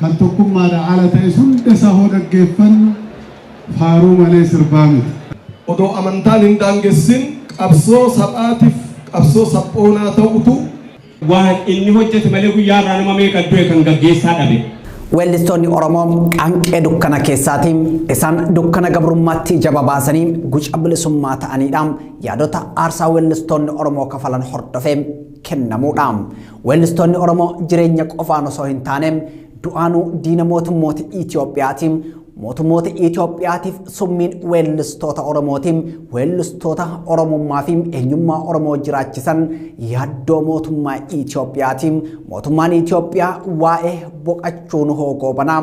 Kan tokkummaadha ala ta'es hunda isaa hoo dhaggeeffannu faaruu malee sirbaa miti. Odoo amantaan hin daangessin qabsoo sab'aatif qabsoo sab'oonaa ta'utu. Waan inni hojjete malee guyyaa har'aa nama meeqa du'e kan gaggeessaa dhabe. Weellistoonni Oromoo qaanqee dukkana keessaati. Isaan dukkana gabrummaatti ija babaasanii guca bilisummaa ta'aniidha. Yaadota aarsaa weellistoonni Oromoo kafalan hordofee. kennamuudha. Weellistoonni Oromoo jireenya qofaan osoo hin taane du'aanuu diina mootummoota Itoophiyaati. Mootummoota Itoophiyaatiif summiin weellistoota Oromooti. Weellistoota Oromummaa fi eenyummaa Oromoo jiraachisan yaaddoo mootummaa Itoophiyaati. Mootummaan Itoophiyaa waa'ee boqachuun hoogoobanaa.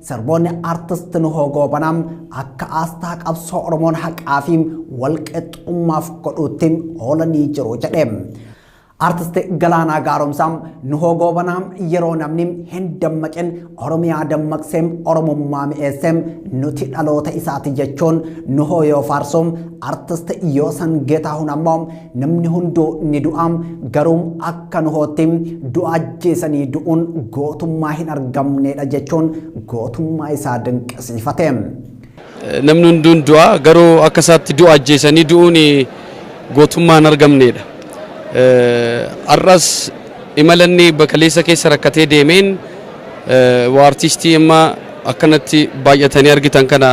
Sirboonni Artist Nuhoo Goobanaa akka aasxaa qabsoo Oromoon haqaa fi walqixxummaaf godhuutti oolanii jiru jedhe. Artist Galaanaa Gaaromsaa Nuhoo Goobanaa yeroo namni hin dammaqin Oromiyaa dammaqsee Oromummaa mi'eessee nuti dhaloota isaati jechuun Nuhoo yoo faarsu Artist Yoosan Geetaahun ammoo Namni hunduu ni du'a, garuu akka Nohootti du'a ajjeesanii du'uun gootummaa hin argamneedha jechuun gootummaa isaa dinqisiifate. Namni hunduu ni du'a, garuu akka isaatti du'a ajjeesanii du'uun gootummaa hin argamneedha. Har'as imala inni bakaleessa keessa rakkatee deemeen waa artiistii amma akkanatti baay'atanii argitan kana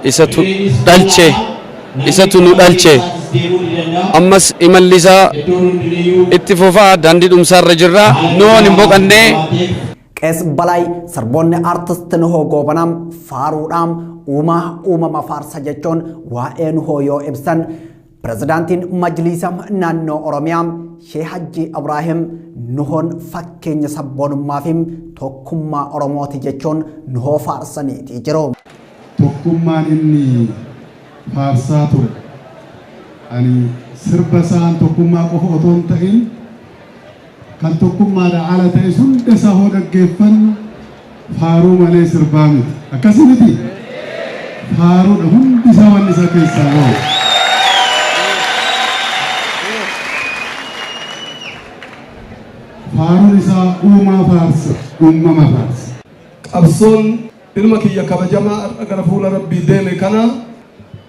Isatu dhalche, isatu nu dhalche. Ammas imalli isaa itti fufa, daandii dhumsaa irra jirra. Nuhoon hin boqanne. Qees Balaay sirboonni artist Nuhoo Goobanaa faaruudhaan uumaa uumama faarsa jechuun waa'ee Nuhoo yoo ibsan Pirezidaantiin Majliisa Naannoo Oromiyaa Sheeh Hajjii Abraahim Nuhoon fakkeenya sabboonummaa fi tokkummaa Oromooti jechuun Nuhoo faarsaniitii jiru. Tokkummaan inni faarsaa ture ani sirba isaan tokkummaa qofa otoo hin ta'in Kan tokkummaadhaa ala ta'es hunda isaa hoo dhaggeeffannu faaruu malee sirbaa miti. Akkasii mitii? Faaruudha hundi isaa wanni isaa keessaa bahu. Faaruun isaa uumaa faarsa, uumama faarsa. Qabsoon Ilma kiyya kabajamaa har'a gara fuula Rabbii deeme kana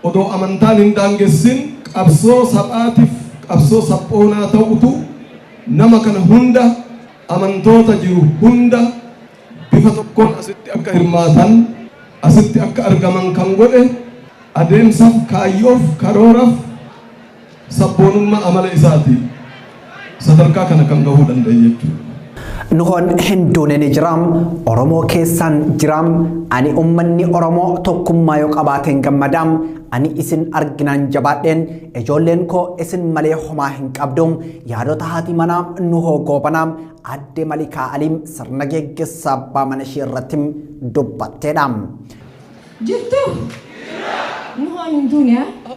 odoo amantaan hin daangessin qabsoo sab'aatiif qabsoo sab'oonaa ta'utu nama kana hunda amantoota jiru hunda bifa tokkoon asitti akka hirmaatan asitti akka argaman kan godhe adeemsaf kaayyoof karooraaf sabboonummaa amala isaatiin sadarkaa kana kan gahuu danda'e jechuudha. Nuhoon hin duune ni jira, Oromoo keessaan jira, ani ummanni Oromoo tokkummaa yoo qabaateen gammada, ani isin arginaan jabaadheen ijoolleen koo isin malee homaa hin qabdu, yaadota haati manaa Nuhoo Goobanaa adde Malikaa Aliim sirna geggeessaa abbaa mana ishee irratti dubbatteedha. Jirtu? Nuhoon hin duune haa?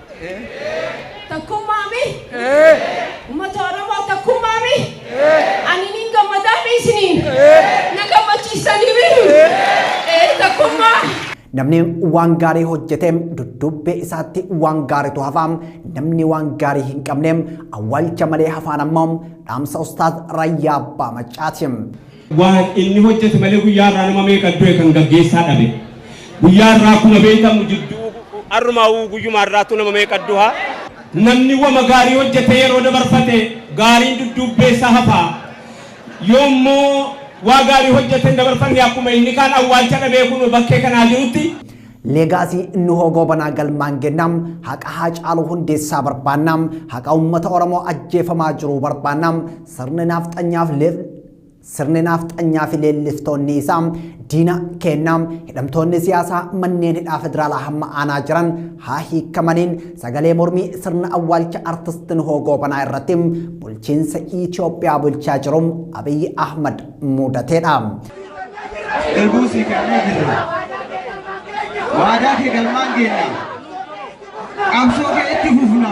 Takkummaami? Ummata Oromoo takkummaami? Ani nin gammadaami isiniin? Na gammachiistanii miti? Ee takkummaa. Namni waan gaarii hojjete dudduubbee isaatti waan gaaritu hafa. Namni waan gaarii hin qabne awwaalcha malee hafaan ammoo dhaamsa Ustaaz Rayyaa Abbaa Maccaati. Waan inni hojjete malee guyyaa irraa nama meeqa du'e kan gaggeessaa dhabe. Guyyaa irraa akkuma beekamu jidduu arrumaa uu guyyumaa irraattuu nama meeqa duha. Namni wama gaarii hojjetee yeroo dabarfate gaariin dudduubbee isaa hafa. Yoo immoo waa gaarii hojjete hin dabarfanne akkuma inni kaan awwaalcha dhabee kunoo bakkee kanaa jirutti. Leegaasii Nuhoo Goobanaa galmaan geenna, haqa Haacaaluu Hundeessaa barbaanna, haqa uummata Oromoo ajjeefamaa jiruu barbaanna, sirni naafxanyaaf Sirni naafxanyaa fi leelliftoonni isaa diina keenna hidhamtoonni siyaasaa manneen hidhaa federaalaa hamma aanaa jiran haa hiikamaniin sagalee mormii sirna awwaalcha artist Nuhoo Goobanaa irratti bulchiinsa Itoophiyaa bulchaa jiru Abiy Ahmad muudateedha. Eeguu si kennaa jirra. Waadaa kee galmaan geenna. Qabsoo kee itti fufna.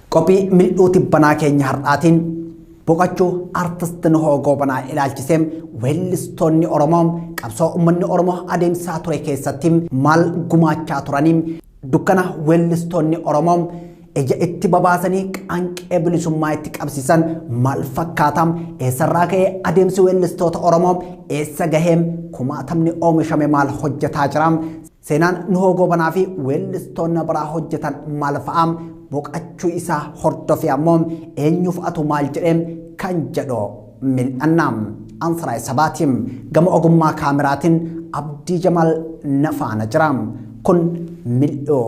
Qophii mil'uu tibbanaa keenya har'aatiin boqachuu artist Nuhoo Goobanaa ilaalchisee weellistoonni Oromoo qabsoo uummanni Oromoo adeemsaa ture keessatti maal gumaachaa turanii dukkana weellistoonni Oromoo ija itti babaasanii qaanqee bilisummaa itti qabsiisan maal fakkaata eessarraa ka'ee adeemsi weellistoota Oromoo eessa gahee kumaatamni oomishame maal hojjetaa jira Seenaan Nuhoo Goobanaa fi weellistoonni biraa hojjetan maal fa'a? Boqachuu isaa hordofee ammoo eenyuuf atu maal jedhe kan jedhu mil'anna. Ansaraay Sabaatiin gama ogummaa kaameraatiin Abdii Jamaal na faana jira. Kun mil'oo.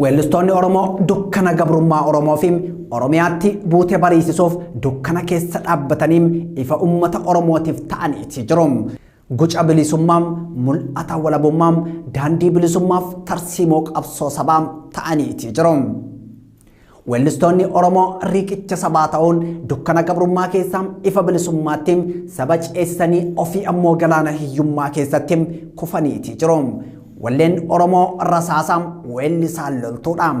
Weellistoonni Oromoo dukkana gabrummaa Oromoo fi Oromiyaatti buute bariisisuuf dukkana keessa dhaabbatanii ifa uummata Oromootiif ta'aniiti jiru. Guca bilisummaa, mul'ata walabummaa, daandii bilisummaaf tarsiimoo qabsoo sabaa ta'aniiti jiru. Weellistoonni Oromoo riiqicha sabaa ta'uun dukkana gabrummaa keessaa ifa bilisummaatti saba ceesisanii ofii ammoo galaana hiyyummaa keessatti kufaniitii jiru. Walleen Oromoo rasaasa weellisaan loltuudha.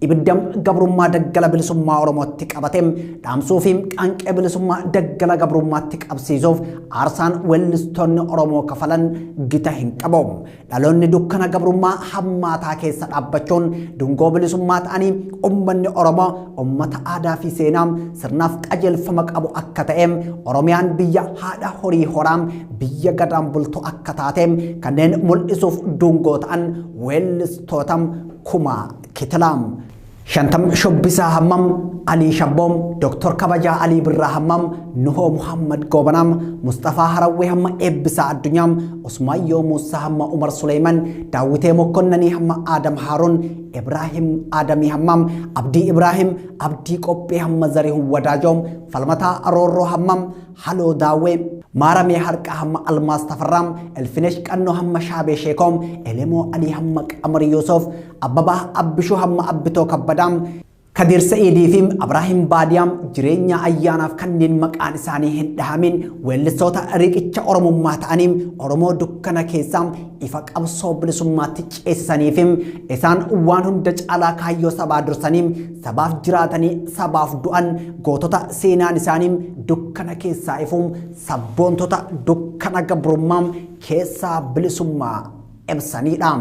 Ibidda gabrummaa daggala bilisummaa Oromootti qabate dhaamsuu fi qaanqee bilisummaa daggala gabrummaatti qabsiisuuf aarsaan weellistoonni Oromoo kafalan gita hin qabu. Dhaloonni dukkana gabrummaa hammaataa keessa dhaabbachuun dungoo bilisummaa ta'anii ummanni Oromoo ummata aadaa fi seenaa sirnaaf qajeelfama qabu akka ta'e Oromiyaan biyya haadha horii horaa biyya gadaan bultu akka taate kanneen mul'isuuf dungoo ta'an weellistoota kumaa kitilaam. Shantam Shubbisaa Hammam, Alii Shabboom, Doktor Kabajaa Alii Birraa Hammam, Nuhoo Muhammad Goobanaam, Musxafaa Harawwee hamma Eebbisaa Addunyaam, Usmaayyoo Muussaa hamma Umar Suleeyman, Daawwitee Mokkonnanii hamma Aadam Haaruun, Ibraahim Aadamii Hammam, Abdii Ibraahim, Abdii Qophee hamma Zarihun Wadaajoom, Falmataa Aroorroo Hammam, Haloo Daawwee, Maaramee Harqaa hamma Almaas Tafarraam, Elfinesh Qannoo hamma Shaabee Sheekoom, Elemoo Alii hamma Qamar Yuusuf, Abbabaa Abbishuu Hamma Abbitoo Kabbadaa, Kadiir Sa'iidii fi Abraahim Baadiyaa jireenyaa ayyaanaaf kanneen maqaan isaanii hin dhahamin weellistoota riqicha Oromummaa ta'anii Oromoo dukkana keessaa ifa qabsoo bilisummaatti ceesisanii fi isaan waan hunda caalaa kaayyoo sabaa dursanii sabaaf jiraatanii sabaaf du'an gootota seenaan isaanii dukkana keessaa ifu sabboontota dukkana gabrummaa keessaa bilisummaa ibsanidha.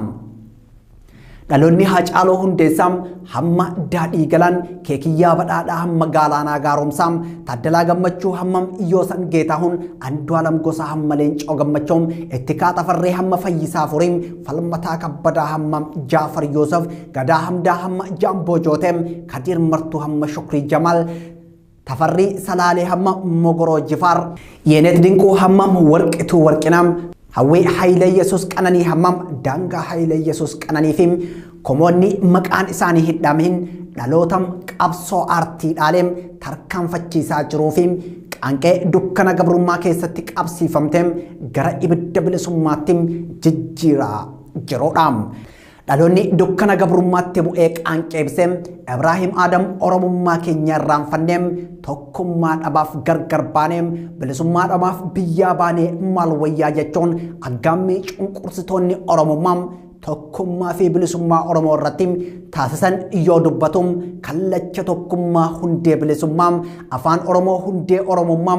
Dhaloonni Haacaaloo Hundeessaa hamma daadhii galaan keekiyyaa badhaadhaa hamma gaalaanaa gaaromsaa Taaddalaa Gammachuu hamma Yoosan Geetaahuun Andu'aalam Gosaa hamma Leencoo Gammachoo itti kaatafarree hamma Fayyisaa Furii falmataa kabbadaa hamma Jaafar Yoosef Gadaa Hamdaa hamma Jaamboo Jootee Kadiir Martuu hamma Shukrii Jamaal Tafarrii Salaalee hamma Mogoroo Jifaar. Yeenet Dinquu hammam Warqituu Warqinaa. Hawwii Haayile Yesuus Qananii hammam Daangaa Haayile Yesuus Qananii fi komoonni maqaan isaanii hin dhaamihin dhaloota qabsoo aartii dhaalee tarkaanfachiisaa jiruu fi qaanqee dukkana gabrummaa keessatti qabsiifamtee gara ibidda bilisummaatti jijjiiraa jirudha. Dhaloonni dukkana gabrummaatti bu'ee qaanqeebse Ibraahim Aadam Oromummaa keenya irraanfannee tokkummaa dhabaaf gargar baanee bilisummaa dhabaaf biyyaa baanee maal wayyaa jechuun aggaammii cunqursitoonni Oromummaa tokkummaa fi bilisummaa Oromoo irratti taasisan yoo dubbatu kallacha tokkummaa hundee bilisummaa afaan Oromoo hundee Oromummaa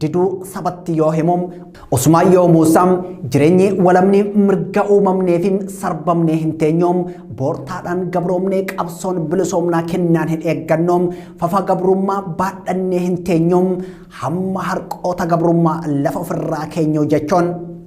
diduu sabatti yoo himu usumaan yoo muusa jireenyi walamni mirga uumamnee fi sarbamnee hin teenyu boortaadhaan gabroomnee qabsoon bilisoomnaa kennaan hin eeggannu fafa gabrummaa baadhannee hin teenyu hamma harqoota gabrummaa lafa ofirraa keenyu jechuun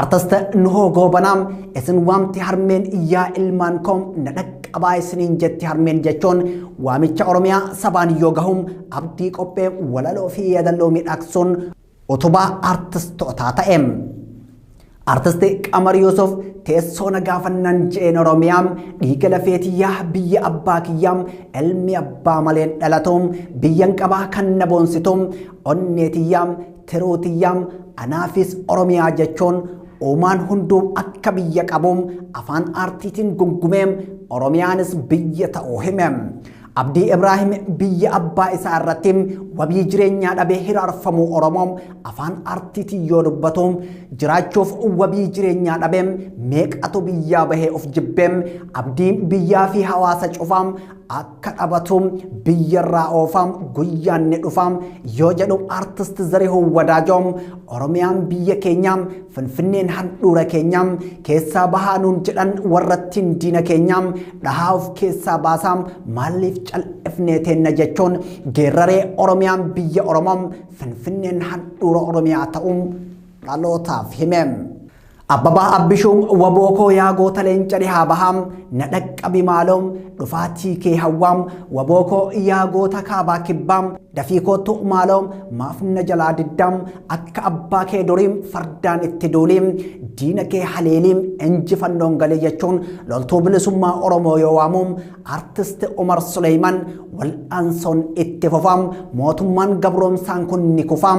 Artist Nuhoo Goobanaa isin waamti harmeen yaa ilmaan koo na dhaqqabaa isiniin jetti harmeen jechuun waamicha Oromiyaa sabaan yoo gahu abdii qophee walaloo fi yaadalloo miidhagsuun utubaa artistootaa ta'e. Artisti Qamar Yuusuf teessoo na gaafannaan je'een Oromiyaa dhiiga lafee tiyyaa biyya abbaa kiyyaa ilmi abbaa maleen dhalatu biyyan qabaa kan na boonsitu onnee tiyyaa Tiruu tiyyaa anaafis Oromiyaa jechuun uumaan hunduu akka biyya qabu afaan aartiitiin gungumee Oromiyaanis biyya ta'uu hime. Abdii Ibraahim biyya abbaa isaa irratti wabii jireenyaa dhabee hiraarfamuu Oromoo afaan aartiitiin yoo dubbatu jiraachuuf wabii jireenyaa dhabee meeqatu biyyaa bahee of jibbee abdii biyyaa fi hawaasa cufaa akka dhabatu biyyarraa oofaa guyyaan ni dhufa yoo jedhu artist Zarihuun Wadaajoo Oromiyaan biyya keenya Finfinneen handhuura keenya keessaa bahaa nuun jedhan warrattiin diina keenya dhahaa of keessaa baasaa maaliif cal'ifnee teenna jechuun geerraree Oromiyaan biyya Oromoo Finfinneen handhuura Oromiyaa ta'uu dhalootaaf hime. Abbabaa Abbishuu waboo koo yaa goota leenca dhihaa bahaa na dhaqqabi maaloo dhufaatii kee hawwaa waboo koo yaa goota kaabaa kibbaa dafii kootu maaloo maaf na jalaa diddaa akka abbaa kee durii fardaan itti duulii diina kee haleelii injifannoon galee jechuun loltuu bilisummaa Oromoo yoo waamu artist Umar Suleeyman wal'aansoon itti fufaa mootummaan gabroomsaan kun ni kufaa.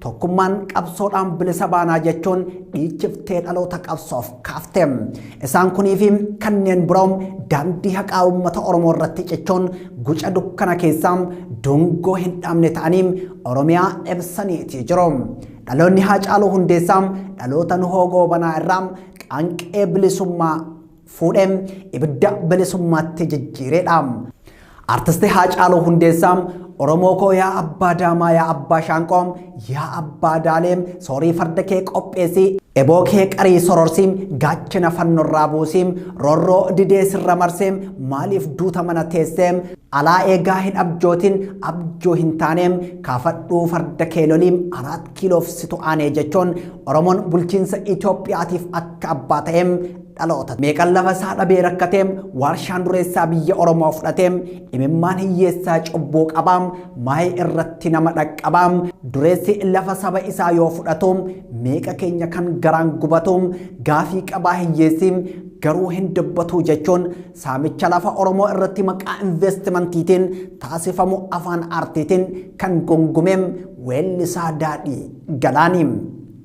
Tokkummaan qabsoodhaan bilisa baanaa jechuun dhiichiftee dhaloota qabsoof kaafte. Isaan kunii fi kanneen biroo daandii haqaa uummata Oromoo irratti cichuun guca dukkana keessaa dungoo hin dhaabne ta'anii Oromiyaa ibsaniitii jiru. Dhaloonni Haacaaluu Hundeessaa dhaloota Nuhoo Goobanaa irraa qaanqee bilisummaa fuudhee ibidda bilisummaatti jijjiireedha. Artisti Haacaaluu Hundeessaa Oromoo koo yaa abbaa daamaa yaa abbaa shaanqoo yaa abbaa daalee soorii farda kee qopheessii eboo kee qarii sororsii gaachana fannorraa buusii rorroo didee sirra marsee maaliif duuta mana teessee alaa eegaa hin abjootiin abjoo hin taanee kaafadhuu farda kee lolii araat kiiloof situ aanee jechuun Oromoon bulchiinsa Itoophiyaatiif akka abbaa ta'ee Dhaloota meeqan lafa isaa dhabee rakkatee waarshaan dureessaa biyya Oromoo fudhatee imimmaan hiyyeessaa cubbuu qabaa maayee irratti nama dhaqqabaa dureessi lafa saba isaa yoo fudhatu meeqa keenya kan garaan gubatu gaafii qabaa hiyyeessi garuu hin dubbatuu jechuun saamicha lafa Oromoo irratti maqaa investimantiitiin taasifamu afaan aartiitiin kan gongumeem weellisaa daadhii galaanii.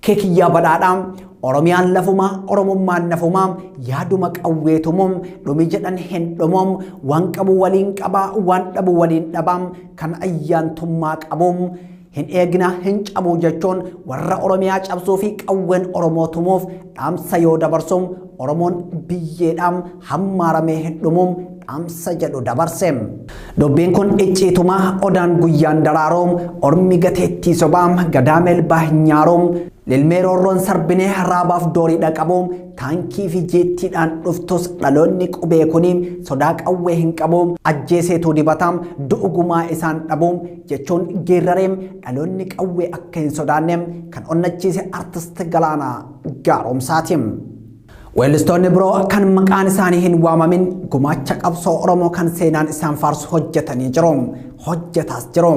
Kee kiyyaa badhaadhaa Oromiyaan lafuma Oromummaan nafuma yaaduma qawweetumu dhumi jedhan hin dhumu waan qabu waliin qaba waan dhabu waliin dhaba kan ayyaantummaa qabu hin eegna hin cabu jechuun warra Oromiyaa cabsuu fi qawween Oromoo tumuuf dhaamsa yoo dabarsu Oromoon biyyeedhaam hammaaramee hin dhumuum dhaamsa jedhu dabarse. Dubbiin kun icciituma odaan guyyaan daraaruum ormi gateettii sobaam gadaa melbaa hin nyaaruum lilmee roorroon sarbinee raabaaf doorii dhaqabuum taankii fi jeettiidhaan dhuftus dhaloonni qubee kuni sodaa qawwee hin qabu ajjeeseetuu dibataam du'ugumaa isaan dhabuum jechuun geerrareem dhaloonni qawwee akka hin sodaanne kan onnachiise artist Galaanaa Gaaromsaatiin. Weellistoonni biroo kan maqaan isaanii hin waamamin gumaacha qabsoo Oromoo kan seenaan isaan faarsu hojjetanii jiru. Hojjetaas jiru.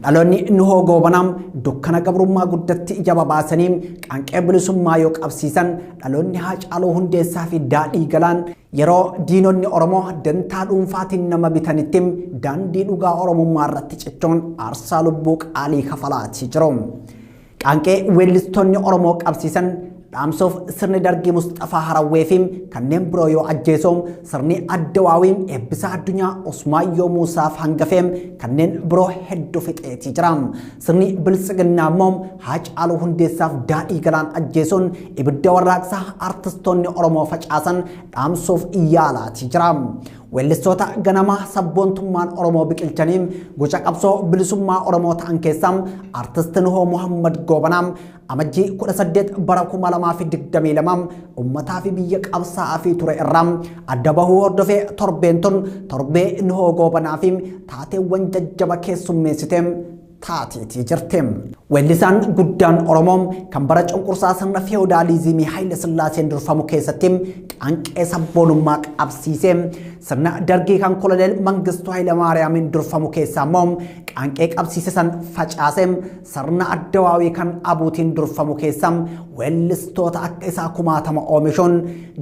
Dhaloonni Nuhoo Goobanaa dukkana gabrummaa guddatti ija babaasanii qaanqee bilisummaa yoo qabsiisan dhaloonni Haacaaluu Hundeessaa fi Daadhii Galaan yeroo diinonni Oromoo dantaa dhuunfaatiin nama bitanitti daandii dhugaa Oromummaa irratti cichoon aarsaa lubbuu qaalii kafalaatii jiru. Qaanqee weellistoonni Oromoo qabsiisan dhaamsoof sirni dargii Musxafaa Harawwee fi kanneen biroo yoo ajjeesoo sirni Addawaawii eebbisaa addunyaa Usmaayyoo Muusaaf hangafee kanneen biroo hedduu fixeetii jira. Sirni biltsiginnaa immoo Haacaaluu Hundeessaaf daadhii galaan ajjeesuun ibidda warraaqsaa artistoonni Oromoo facaasan dhaamsoof yaalaatii jira. Weellistoota ganama sabboontummaan Oromoo biqilchanii guca qabsoo bilisummaa Oromoo ta'an keessaa Artist Nuhoo Muhammad Goobanaa amajjii 18 bara 2022 ummataa fi biyya qabsaa'aa fi ture irraa adda bahuu hordofee torbeen tun torbee Nuhoo Goobanaa fi taateewwan jajjaba keessummeessite taateeti jirti. Weellisaan guddaan Oromoo kan bara cunqursaa sirna feewudaaliizimii Haayila Sillaaseen durfamu keessatti qaanqee sabboonummaa qabsiise sirna dargii kan koloneel Mangistuu Hayilamaariyaamiin durfamu keessaa immoo qaanqee qabsiise san facaase sirna addawaawii kan abuutiin durfamu keessaa weellistoota akka isaa kumaatama oomishuun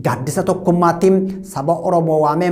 gaaddisa tokkummaatti saba Oromoo waamee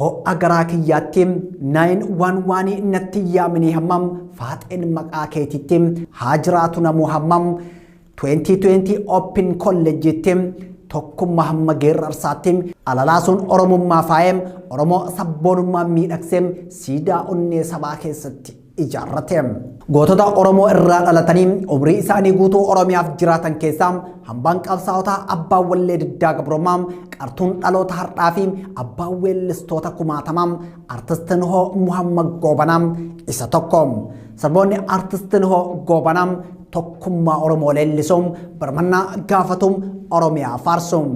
Ho'a garaa kiyyaatti 911 natti hin yaaminii hamma faaxeen maqaa keetitti haa jiraatu namuu hamma 2020 open kolleejjiitti tokkummaa hamma geerrarsaatti alalaasuun oromummaa faayee oromoo sabboonummaa miidhagsee siidaa onnee sabaa keessatti. ijaarrate. Gootota Oromoo irraa dhalatanii umrii isaanii guutuu Oromiyaaf jiraatan keessaa hambaan qabsaa'otaa abbaa wallee diddaa gabrummaa qartuun dhaloota har'aa fi abbaa weellistoota kumaatamaa artistiin hoo Muhammad Goobanaa isa tokko. Saboonni artistiin hoo Goobanaa tokkummaa Oromoo leellisuun birmannaa gaafatuun Oromiyaa faarsuun.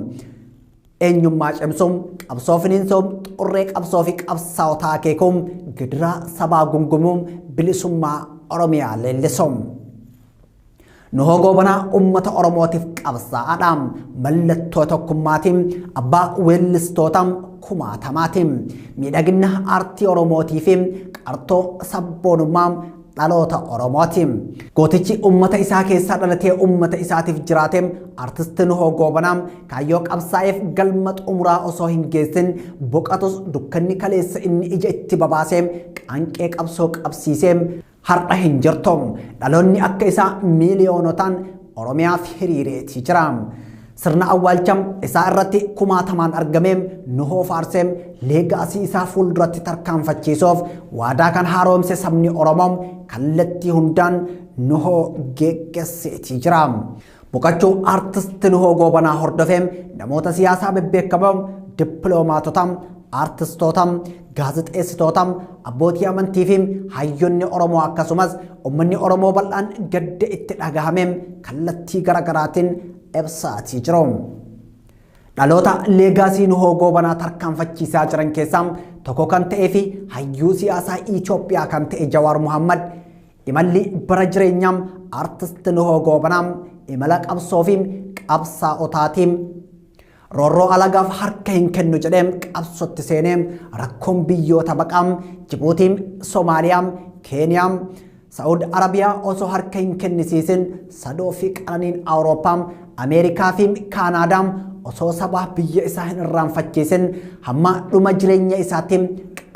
Eenyummaa cimsuun qabsoo finiinsuun xurree qabsoo fi qabsaa'otaa akeekuun gidiraa sabaa gungumuun bilisummaa Oromiyaa leellisuun. Nu hogoo banaa uummata Oromootiif qabsaa'aadha. Mallattoo tokkummaatiin abbaa weellistoota kumaatamaatiin miidhagina aartii Oromootii fi qartoo sabboonummaa dhaloota Oromooti. Gootichi uummata isaa keessaa dhalatee uummata isaatiif jiraate artisti Nuhoo Goobanaa kaayyoo qabsaa'eef galma xumuraa osoo hin geessin boqatus dukkanni kaleessa inni ija itti babaasee qaanqee qabsoo qabsiisee har'a hin jirtu. Dhaloonni akka isaa miiliyoonotaan Oromiyaaf hiriireeti jira. Sirna awwaalcha isaa irratti kumaatamaan argamee nu hoofaarseem leegaasii isaa fuulduratti tarkaanfachiisuuf waadaa kan haaroomse sabni Oromoo kallattii hundaan nuhoo geeggesseetii jira. Boqachuu aartisti nuhoo goobanaa hordofee namoota siyaasaa bebbeekamoo dippiloomaatota aartistoota Gaazexeessitoota, abbootii amantii fi hayyonni Oromoo akkasumas uummanni Oromoo bal'aan gadda itti dhagahame kallattii garaagaraatiin ibsaatii jiru. Dhaloota leegaasii nuhoo goobanaa tarkaanfachiisaa jiran keessaa tokko kan ta'ee fi hayyuu siyaasaa Itoophiyaa kan ta'e Jawaar Muhammad imalli bara jireenyaa artist nuhoo goobanaa imala qabsoo fi qabsaa'otaatiin Roorroo alagaaf harka hin kennu jedhee qabsootti seenee rakkoon biyyoota baqaa Jibuutii, Somaaliyaa, Keeniyaa, Sa'ud Arabiyaa osoo harka hin kennisiisin sadoo fi qananiin Awurooppaa, Ameerikaa fi Kaanaadaa osoo sabaa biyya isaa hin irraanfachiisin hamma dhuma jireenya isaatti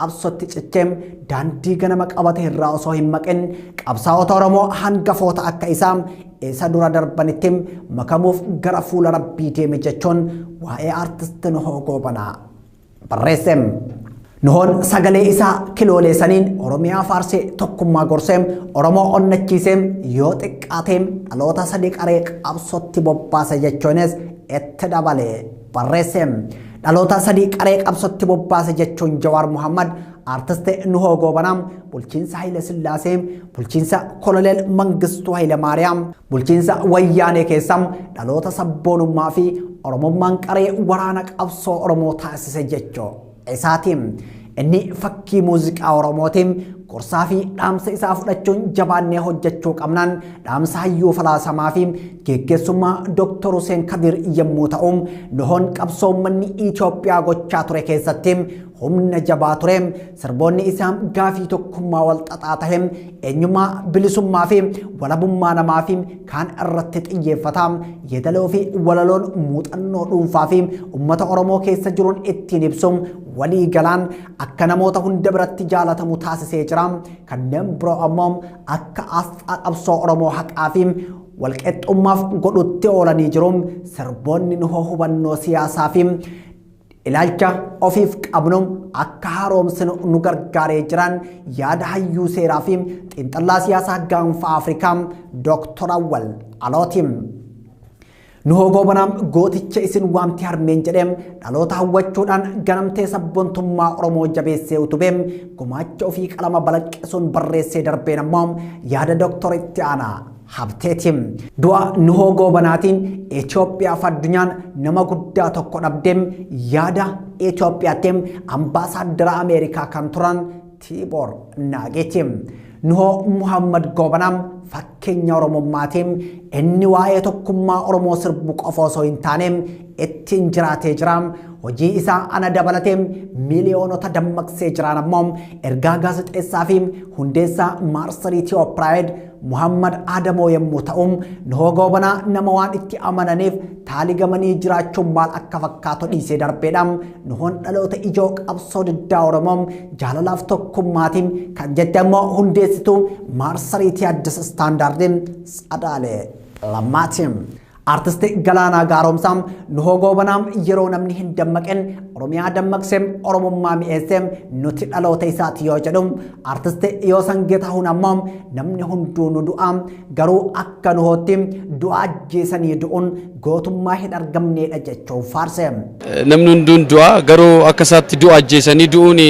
qabsootti cichee daandii ganama qabate irraa osoo hin maqin qabsaa'ota Oromoo hangafoota akka isaa isa dura darbanitti makamuuf gara fuula rabbii deeme jechuun waa'ee artist Nuhoo Goobanaa barreesse. Nuhoon sagalee isaa kiloolee saniin Oromiyaa faarsee tokkummaa gorsee Oromoo onnachiisee yoo xiqqaatee dhaloota sadii qaree qabsootti bobbaase jechuunis itti dabalee barreesse. Dhaloota sadii qaree qabsootti bobbaase jechuun Jawaar Muhammad Artist Nuhoo Goobanaa bulchiinsa Hayila Sillaasee, bulchiinsa Koloneel Mangistuu Hayila Maariyaam, bulchiinsa Wayyaanee keessa dhaloota sabboonummaa fi Oromummaan qaree waraana qabsoo Oromoo taasise jechuu isaati. Inni fakkii muuziqaa Oromooti. Gorsaa fi dhaamsa isaa fudhachuun jabaannee hojjechuu qabnaan dhaamsa hayyuu falaasamaa fi geggeessummaa Dr. Hussein Kadir yommuu ta'u, Nuhoon qabsoo uummanni Itoophiyaa gochaa ture keessatti humna jabaa ture sirboonni isaa gaafii tokkummaa walxaxaa tahe eenyummaa bilisummaa fi walabummaa namaa fi kaan irratti xiyyeeffata yeedaloo fi walaloon muuxannoo dhuunfaa fi ummata oromoo keessa jiruun ittiin ibsu walii galaan akka namoota hunda biratti jaalatamu taasisee jira kanneen biroo ammoo akka asxaa qabsoo oromoo haqaa fi walqixxummaaf godhutti oolanii jiru sirboonni nuhoo hubannoo siyaasaa fi Ilaalcha ofiif qabnu akka haaromsinu nu gargaaree jiraan yaada hayyuu seeraa fi xiinxallaa siyaasaa gaanfa Afrikaa Dooktor Awwal Alooti. Nu hogoobanaa gooticha isin waamti harmeen jedhee dhaloota hawwachuudhaan ganamtee sabbontummaa Oromoo jabeessee utubee gumaacha ofii qalama balaqqesuun barreessee darbeen ammoo yaada Dooktor Itti Aanaa Habteeti. Du'a Nuhoo Goobanaatiin Itoophiyaa fi addunyaan nama guddaa tokko dhabde yaada Itoophiyaatti ambaasaaddara Ameerikaa kan turan Tiiboor Naageeti. Nuhoo Muhammad Goobanaa fakkeenya Oromummaati. Inni waa'ee tokkummaa Oromoo sirbu qofa osoo hin taane ittiin jiraatee jira. Hojii isaa ana dabalatee miliyoonota dammaqsee jiraan ammoo ergaa gaazexeessaa fi hundeessaa maarsarii Tiyoopiraayid Muhammad Aadamoo yommuu ta'u, Nuhoo Goobanaa nama waan itti amananiif taaligamanii jiraachuun maal akka fakkaatu dhiisee darbeedha. Nuhoon dhaloota ijoo qabsoo diddaa Oromoo jaalalaaf tokkummaatiin kan jette immoo hundeessituu maarsariitii Addis Istaandaardiin Tsadaalee Lammaatiin. Artisti Galaanaa Gaaromsaa Nuhoo Goobanaa yeroo namni hin dammaqin Oromiyaa dammaqsee Oromummaa mi'eessee nuti dhaloota isaati yoo jedhu artisti Yoosan Geetahuun ammoo namni hunduu nu du'a garuu akka nuhootti du'a ajjeesanii du'uun gootummaa hin argamneedha jechuun faarse. Namni hunduun du'a garuu akka isaatti du'a ajjeesanii du'uun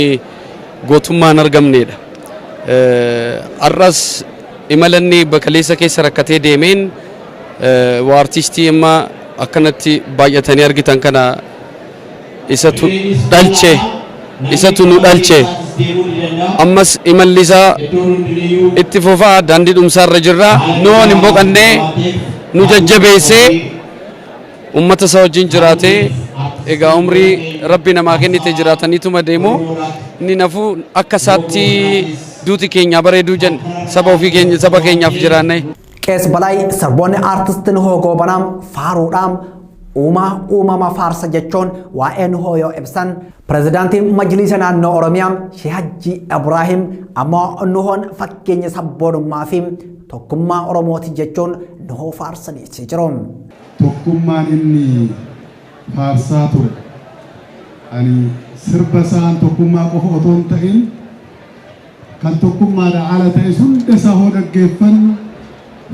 gootummaa hin argamneedha. Har'as imalanni bakaleessa keessa rakkatee deemeen Artistii amma akkanatti baay'atanii argitan kana isatu dhalche isatu nu dhalche ammas imalli isaa itti fufa daandii dhumsaa irra jirra nu waan hin boqannee nu jajjabeessee ummata isaa wajjin jiraatee egaa umrii rabbi namaa kennite jiraataniituma deemu inni nafu akka isaatti duuti keenyaa bareeduu jenna saba ofii keenya saba keenyaaf jiraanne. Qees Balaay sirboonni aartist Nuhoo Goobanaa faaruudhaan uumaa uumama faarsa jechuun waa'ee Nuhoo yoo ibsan pirezidaantiin Majliisa Naannoo Oromiyaa Shee Hajji Ibraahim ammoo Nuhoon fakkeenya sabboonummaa fi tokkummaa Oromooti jechuun Nuhoo faarsaniitii jiru. Tokkummaan inni faarsaa ture. Ani sirba isaan tokkummaa qofa otoo hin ta'in Kan tokkummaadha ala ta'es hunda isaa hoo dhaggeeffannu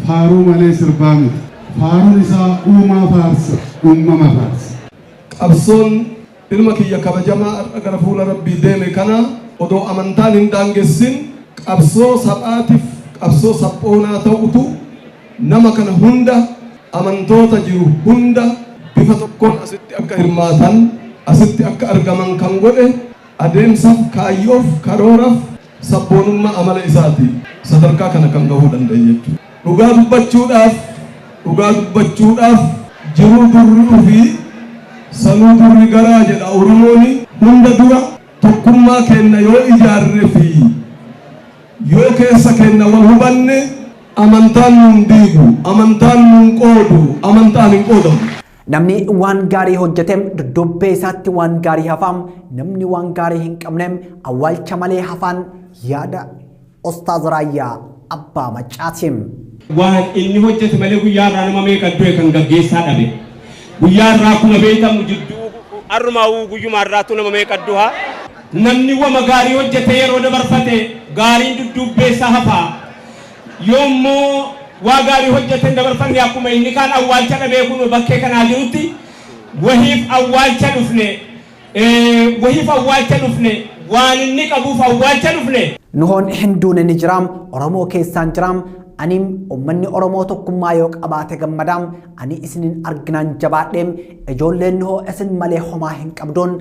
faaruu malee sirbaa miti. Faaruun isaa uumaa faarsa, uummama faarsa. Qabsoon ilma kiyya kabajamaa har'a gara fuula Rabbii deeme kana odoo amantaan hin daangessin qabsoo sab'aatif qabsoo sab'oonaa ta'utu nama kana hunda amantoota jiru hunda bifa tokkoon asitti akka hirmaatan asitti akka argaman kan godhe Adeemsaf, kaayyoof, karooraf, sabboonummaa amala isaatiin sadarkaa kana kan gahuu danda'e jechuudha. Dhugaa dubbachuudhaaf, dhugaa dubbachuudhaaf jiruu durri ufi, sanuu durri garaa jedha Oromooni. Hunda dura tokkummaa keenna yoo ijaarre fi yoo keessa keenna wal hubanne amantaan nun diigu, amantaan nun qoodu, amantaan hin qoodamu. Namni waan gaarii hojjete dudduubbee isaatti waan gaarii hafa. Namni waan gaarii hin qabne awwaalcha malee hafaan yaada Ustaaz Raayyaa Abbaa Maccaati. Waan inni hojjete malee guyyaa irraa nama meeqa du'e kan gaggeessaa dhabe. Guyyaa irraa akkuma beekamu jidduu har'umaa uu guyyumaa irraattuu nama meeqa duha. Namni wama gaarii hojjete yeroo dabarfate gaariin dudduubbee isaa hafa. Yommuu waa gaarii hojjatan dabarfanne akkuma inni kaan awwaalcha dhabee kunoo bakkee kanaa jirutti wahiif awwaalcha dhufne, ee, wahiif awwaalcha dhufne, waan inni qabuuf awwaalcha dhufne. Nuhoon hin duune ni jira, Oromoo keessaan jira, ani ummanni Oromoo tokkummaa yoo qabaate gammada, ani isinin arginaan jabaadhe, ijoolleen Nuhoo isin malee homaa hin qabduun,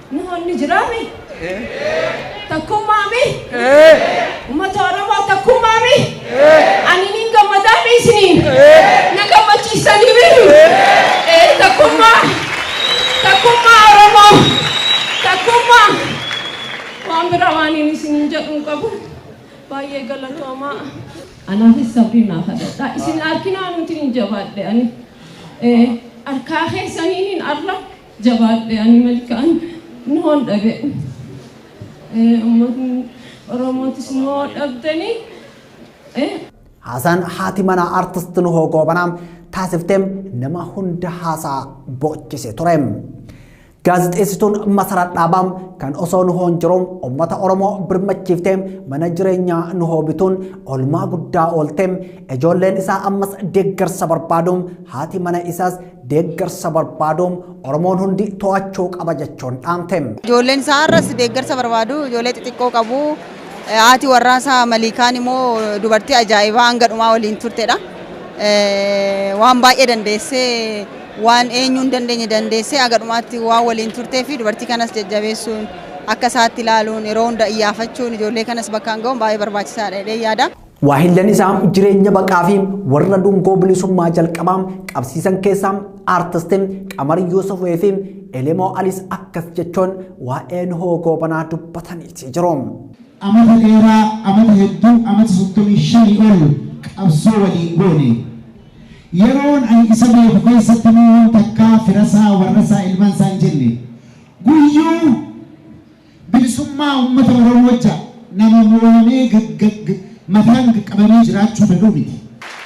Nuhoon ni jiraa mi? Takkummaa mi? Uummata Oromoo takkummaa mi? Ani niin gammadaa mi isiniin? Na gammachiisanii mi? Ee takkummaa. Takkummaa Oromoo. Takkummaa. Waan biraa waan hin isiniin jedhu hin qabu. Baay'ee galatoomaa. Anaafis sabrii naaf hadhadhaa. Isin arkinaa nuti hin jabaadhe ani. Ee, Harkaa keessaniin arra Jabaadhe ani malkaan noon dhabe ummatni oromootis noo dhabdani. Haasaan haati manaa artist Nuhoo Goobanaa taasifteem nama hunda haasaa boochise ture. Gaazexeessituun Masarat Dhaabaa kan osoo Nuhoon jiru uummata Oromoo birmachiiftee mana jireenyaa Nuhoo bituun olmaa guddaa ooltee ijoolleen isaa ammas deeggarsa barbaadu haati mana isaas deeggarsa barbaadu Oromoon hundi to'achuu qaba jechuun dhaamte. Ijoolleen isaa har'as deeggarsa barbaadu, ijoollee xixiqqoo qabu. Eh, Haati warraa isaa Maliikaan immoo dubartii ajaa'ibaa hanga dhumaa waliin turtedha. Eh, Waan baay'ee dandeessee waan eenyuu hin dandeenye dandeessee haga dhumaatti waan waliin turtee fi dubartii kanas jajjabeessuun akka isaatti ilaaluun yeroo hunda iyyaafachuun ijoollee kanas bakkaan ga'uun baay'ee barbaachisaadha jedhee yaada. Waahillan isaa jireenya baqaa fi warra dungoo bilisummaa jalqabaa qabsiisan keessaa aartistiin Qamar Yuusufee fi Elemoo Alis akkas jechuun waa'ee Nuhoo Goobanaa dubbataniiti jiru. Amata dheeraa, amata hedduu, amata soddomii shanii ol qabsoo waliin goone. Yeroon ani isa beeku keessatti Nuhoon takkaa firasaa, warrasaa, ilmansaa hin jenne. Guyyuu. Bilisummaa uummata Oromoo ja nama mo'amee gag-gag mataan gag-qabamee jiraachuu dadhuu miti.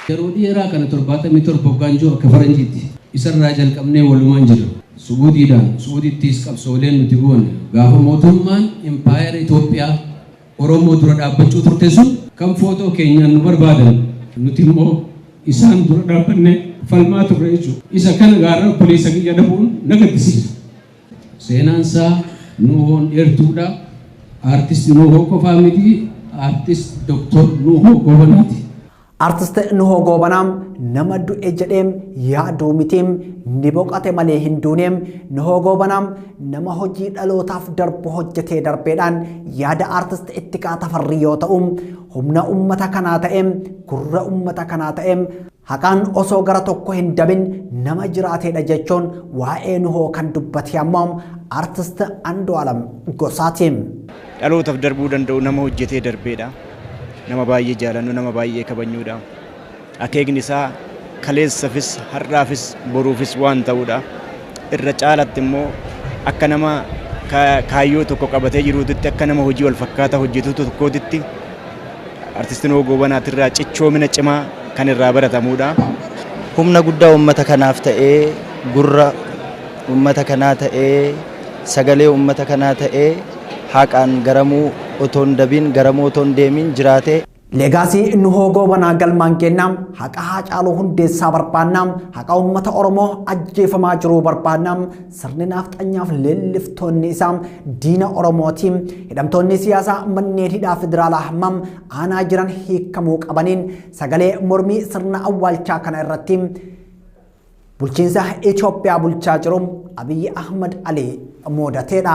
Yeroo dheeraa kana 77 waggaan jiru akka faranjiitti isarraa jalqabnee walumaan jirra. Subuutiidhaan, subuutittiis qabsooleen nuti goone gaafa mootummaan impaayera Itoophiyaa Oromoo dura dhaabbachuu turte sun kan footoo keenyaan nu barbaadan nuti immoo isaan dura dhaabbannee falmaa turre jechuudha. Isa kana gaarra obboleessa kiyya dhabuun na gaddisiisa. Seenaan isaa Nuuhoon dheertuudha. Artist Nuuhoo qofaa miti, Artist Dr. Nuuhoo Goobanaati. Artist Nuhoo Goobanaa nama du'e jedhee yaaduu miti ni boqate malee hin duune Nuhoo Goobanaa nama hojii dhalootaaf darbu hojjetee darbeedhaan yaada artist Ittiqaa Tafarrii yoo ta'u humna ummata kanaa ta'e gurra ummata kanaa ta'e Haqaan osoo gara tokko hin dabin nama jiraateedha jechuun waa'ee Nuhoo kan dubbate ammoo Artist Andu'aalam Gosaati. Dhalootaf darbuu danda'u nama hojjetee darbeedha. Nama baay'ee jaalannu, nama baay'ee kabajnuudha. Akeekni isaa kaleessafis, har'aafis, boruufis waan ta'uudha. Irra caalatti immoo akka nama kaayyoo tokko qabatee jiruutitti, akka nama hojii wal fakkaataa hojjetu tokkootitti Artist Nuhoo Goobanaatirraa cichoomina cimaa kan irraa baratamuudha. Humna guddaa uummata kanaaf ta'ee, gurra uummata kanaa ta'ee, sagalee uummata kanaa ta'ee, haqaan garamuu otoo hin dabiin, garamuu otoo hin deemiin jiraate. Leegaasii Nuhoo Goobanaa galmaan geenna, haqa Haacaaluu Hundeessaa barbaanna, haqa uummata Oromoo ajjeefamaa jiruu barbaanna, Sirni naafxanyaaf leelliftoonni isaa diina Oromooti. Hidhamtoonni siyaasaa manneen hidhaa federaalaa hammam aanaa jiran hiikamuu qabaniin sagalee mormii sirna awwaalchaa kana irratti bulchiinsa Itoophiyaa bulchaa jiru Abiyyi Ahmad Alii muudateedha.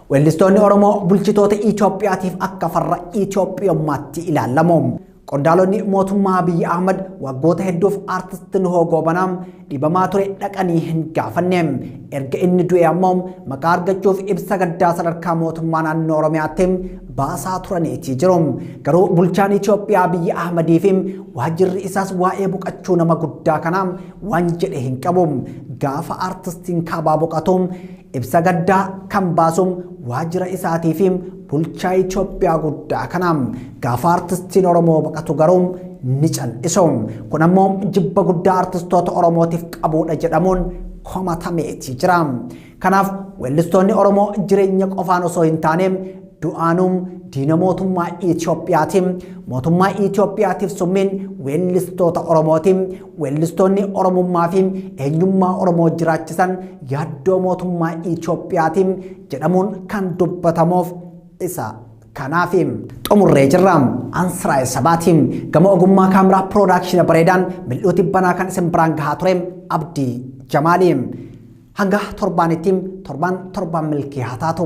Weellistoonni Oromoo bulchitoota Itoophiyaatiif akka farra Itoophiyummaatti ilaalamu. Qondaalonni mootummaa Abiyyi Ahmad waggoota hedduuf aartist Nuhoo Goobanaa dhibamaa ture dhaqanii hin gaafanne. Erga inni du'e ammoo maqaa argachuuf ibsa gaddaa sadarkaa mootummaa naannoo Oromiyaatti baasaa turaniitii jiru. Garuu bulchaan Itoophiyaa Abiyyi Ahmadii fi waajjirri isaas waa'ee boqachuu nama guddaa kanaa waan jedhe hin qabu. Gaafa aartistiin kaabaa boqatu Ibsa gaddaa kan baasu waajjira isaatii fi bulchaa Itoophiyaa guddaa kana gaafa artistiin Oromoo baqatu garuu ni cal'isu. Kun ammoo jibba guddaa artistoota Oromootiif qabuudha jedhamuun komatameeti jira. Kanaaf weellistoonni Oromoo jireenya qofaan osoo hin taane Du'aanuu diina mootummaa Itoophiyaati. Mootummaa Itoophiyaatiif summiin weellistoota Oromooti. Weellistoonni Oromummaa fi eenyummaa Oromoo jiraachisan yaaddoo mootummaa Itoophiyaati jedhamuun kan dubbatamuuf isa kanaafi. Xumurree jirra. Ansiraa'el Sabaati. Gama ogummaa kaameraa piroodaakshina bareedaan mil'uu tibbanaa kan isin biraan gahaa ture Abdii Jamaali. Hanga torbaanitti torban torban milkii haa taatu.